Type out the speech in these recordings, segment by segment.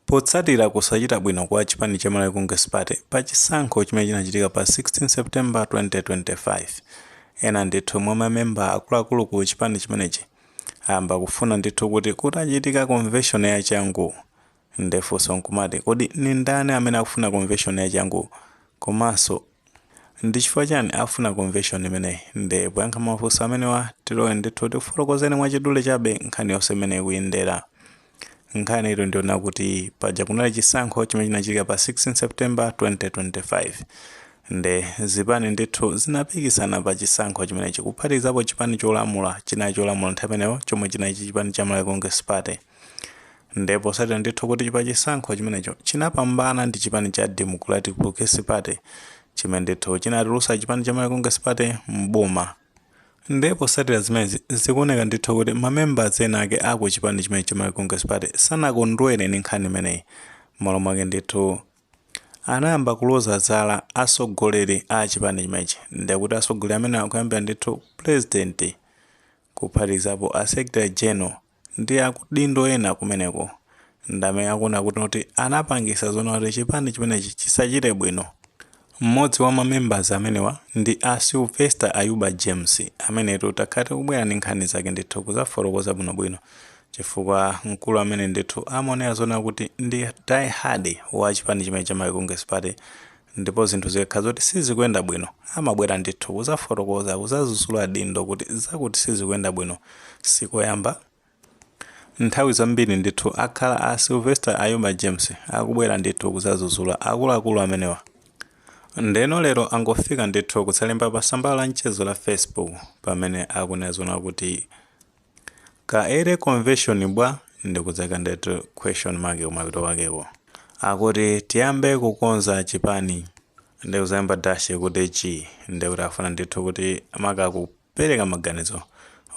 Potsatira kusachita bwino kwa chipani cha Malawi Congress Party pa chisankho chimene chinachitika pa 16 September 2025, ena ndithu mwa mamemba akuluakulu ku chipani chimenechi ayamba kufuna ndithu kuti kuchitike konveshoni yachangu. Nde funso nkumati, kodi ndi ndani amene akufuna konveshoni yachangu komanso ndi chifukwa chiyani afuna konveshoni imeneyi? Nde poyankha mafunso amenewa, tiloe ndithu tikufotokozeni mwachidule chabe nkhani yonse mmene ikuyendera. Nkhani ilipo ndi yonena kuti paja kunali chisankho chimene chinachitika pa 16 September 2025 nde zipani ndithu zinapikisana pa chisankho chimenechi kuphatikizapo chipani cholamula chinali cholamula nthawi imeneyo chomwe chinali chipani cha Malawi Congress Party nde potsatira ndithu kuti pa chisankho chimenecho chinapambana ndi chipani cha Democratic Progressive Party chimene ndithu chinatulutsa chipani cha Malawi Congress Party m'boma Ndipo potsatira zimenezi, zikuoneka ndithu kuti ma members ena ake a ku chipani chimenechi cha Malawi Congress Party sanakondwere ndi nkhani imeneyi, m'malo mwake ndithu anayamba kuloza zala atsogoleri a chipani chimenechi. Ndiye kuti atsogoleri amenewa kuyambira ndithu Pulezidenti kuphatikizapo a Secretary General, Ndi akudindo ena kumeneko ndamene akuona kuti ndi amene anapangitsa zoona kuti chipani chimenechi chisachite bwino. Mmodzi wa ma members amenewa ndi a Sylvester Ayuba James amenetu takhala tikubwera ndi nkhani zake ndithu kuzafotokoza bwinobwino chifukwa mkulu ameneyu ndithu amaoneka zonena kuti ndi die hard wa chipani chimenechi cha Malawi Congress Party ndipo zinthu zikakhala zoti sizikuyenda bwino amabwera ndithu kuzafotokoza kuzazuzula adindo kuti zakuti sizikuyenda bwino sikoyamba nthawi zambiri ndithu akhala a Sylvester Ayuba James akubwera ndithu kuzazuzula akuluakulu amenewa ndeno lero angofika ndithu kuzalemba pa tsamba la mchezo la Facebook pamene akunena zonena kuti Ka early convention bwa nde kuzaika ndithu question mark kumapeto kwakeko akuti tiyambe kukonza chipani nde kuzayamba dash kuti chi nde kuti afuna ndithu kuti akupereka maganizo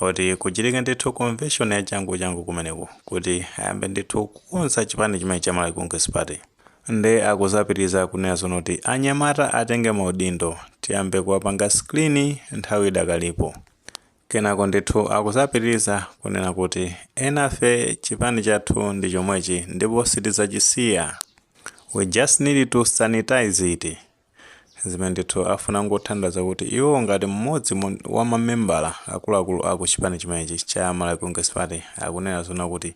oti kuchitike ndithu convention ya changu changu kumeneko kuti ayambe ndithu kukonza chipani chimenechi cha Malawi Congress Party nde akuzapitiriza kunena zonoti anyamata atenge maudindo tiyambe kuwapanga screen nthawi idakalipo Kenako ndithu akuzapitiliza kunena kuti enafe chipani chathu ndi chomwechi ndipo sitizachisiya we just need to sanitize it zimene ndithu afuna kungotanthauza kuti iwo ngati mmodzi wa mamembala akuluakulu aku chipani chimenechi cha Malawi Congress Party akunena zonena kuti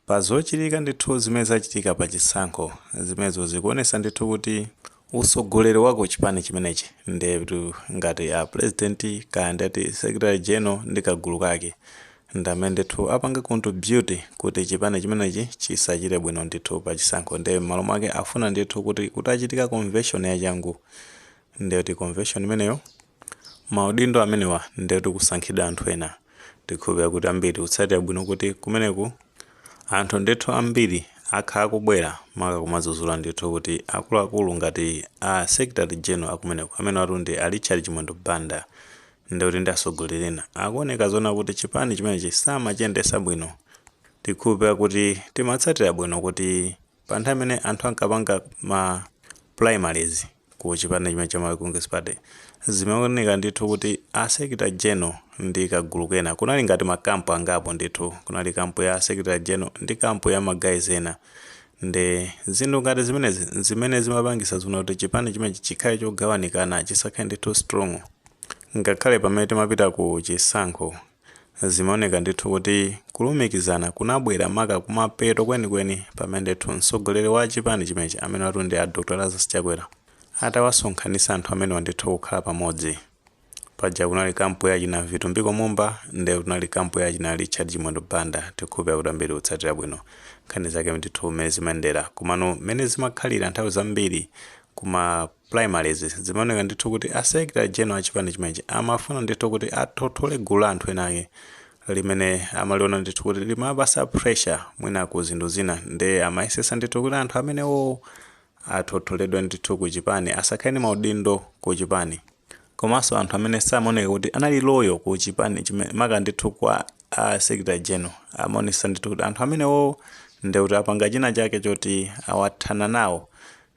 Pa zochitika ndithu zimene zachitika pa chisankho zimenezo zikuonesa ndithu kuti usogoleri wa ku chipani chimenechi ndetu ngati a president kaya ndeti secretary general ndi kagulu kake ndamene ndithu apanga contribute kuti chipani chimenechi chisachite bwino ndithu pa chisankho nde mmalo mwake akufuna ndithu kuti kutachitika convention yachangu ndeti convention imeneyo Maudindo amenewa ndetu kusankhidwa anthu ena tikhulupirira kuti ambiri tikutsatira bwino kuti kumeneku anthu ndithu ambiri akhala akubwera maka kumazuzula ndithu kuti akuluakulu ngati a secretary general akumeneku amenewatu ndi a Richard Chimwendo Banda ndeti ndi atsogoleri ena akuoneka zonena kuti chipani chimenechi samachiyendesa bwino tikhulupirira kuti timatsatira bwino kuti Pa nthawi imene anthu ankapanga ma primaries ku chipani chimene cha Malawi Congress Party, zimaoneka ndithu kuti a Secretary General ndi kagulu kena kunali ngati ma camp angapo ndithu. Kunali camp ya a Secretary General ndi camp ya ma guys ena. Nde zinthu ngati zimenezi n'zimene zimapangitsa zonena kuti chipani chimenechi chikhale chogawanikana, chisakhale ndithu strong ngakhale pamene timapita ku chisankho. Zimaoneka ndithu kuti kulumikizana kunabwera maka kumapeto kwenikweni pamene ndithu mtsogoleri wa chipani chimenechi amenewatu ndi a Dr Lazarus Chakwera atawasonkhanitsa anthu amenewa ndithu kukhala pamodzi. Paja kunali kampu ya achina Vitumbiko Mumba ndiye kunali kampu ya achina Richard Chimwendo Banda tikhulupirira kuti ambiri tikutsatira bwino nkhani zake ndithu mmene zimayendera komano mmene zimakhalira nthawi zambiri kuma primaries zimaoneka ndithu kuti a secretary general a chipani chimenechi amafuna ndithu kuti athothole gulu la anthu ena ake limene amaliona ndithu kuti limapasa pressure mwina ku zinthu zina nde amayesesa ndithu kuti anthu amenewowo athotholedwe ndithu ku chipani asakhale ndi maudindo ku chipani komanso anthu amene samaoneka kuti anali loyal ku chipani chimene maka ndithu kwa a secretary general amaonesesa ndithu kuti anthu amenewowo ndekuti apanga china chake choti awathana nawo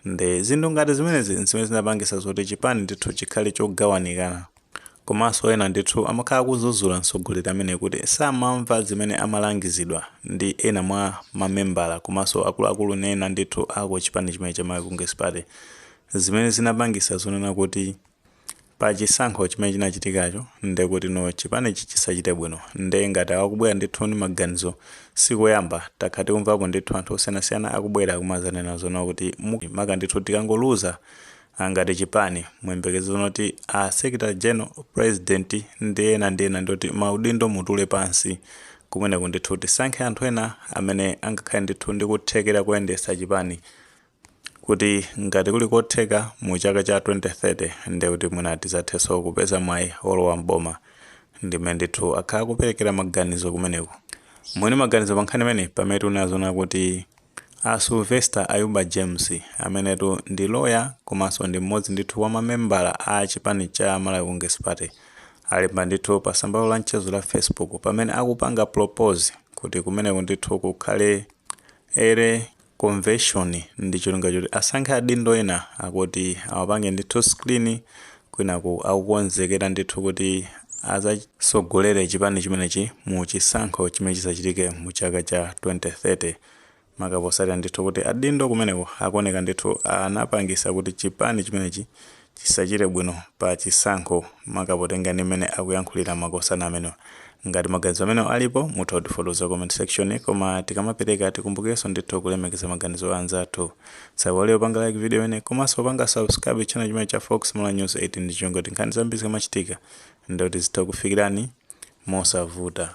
Nde zinthu ngati zimenezi nzimene zinapangisa zoti chipani ndithu chikhale chogawanikana. Komanso ena ndithu amakhala akuzuzula mtsogoleri ameneyi kuti samamva zimene amalangizidwa ndi ena mwa mamembala komanso akuluakulu ena ndithu aku chipani chimene cha Malawi Congress Party zimene zinapangisa zonena kuti Pa chisankho chimene chinachitikacho nde kuti no chipanichi chisachite bwino nde ngati awa akubwera ndithu ndi maganizo sikoyamba takhala tikumvapo ndithu anthu osiyanasiyana akubwera kumazanena zonena kuti maka ndithu tikangoluza ngati chipani muyembekeze zonena kuti a secretary general, president ndi ena ndi ena ndeti maudindo mutule pansi kumeneku ndithu tisankhe anthu ena amene angakhale ndithu ndi kuthekera koyendetsa chipani kuti ngati kuli kotheka mu chaka cha 2030 ndiye kuti mwina tizathenso kupeza mwayi olowa m'boma ndi mmene ndithu akhala akuperekera maganizo kumeneko. Mwini maganizo pa nkhani imeneyi pamene tikunena zoona akuti a Sylvester Ayuba James amenetu ndi lawyer komanso ndi m'modzi ndithu wa ma membala a chipani cha Malawi Congress Party alemba ndithu pa tsamba lawo la mchezo la Facebook pamene akupanga propose kuti kumeneko ndithu kukhale a komveshoni ndi cholinga choti asankhe adindo ena akuti awapange ndithu screen kwinaku akukonzekera ndithu kuti azasogolere chipani chimenechi mu chisankho chimene chizachitike mu chaka cha 2030 maka posatira ndithu kuti adindo kumeneko akuoneka ndithu anapangisa kuti chipani chimenechi chisachite bwino pa chisankho maka potenga ndi mmene akuyankhulira makosana amenewa. Ngati maganizo amenewa alipo mutha kutifotokozera comment section koma tikamapereka tikumbukirenso ndithu kulemekeza maganizo a anzathu. Tisaiwale kupanga like video imeneyi komanso kupanga subscribe channel chimenechi cha Fox Malawi News 8 ndi cholinga choti nkhani zambiri zikamachitika ndiye kuti zitha kukufikirani mosavuta.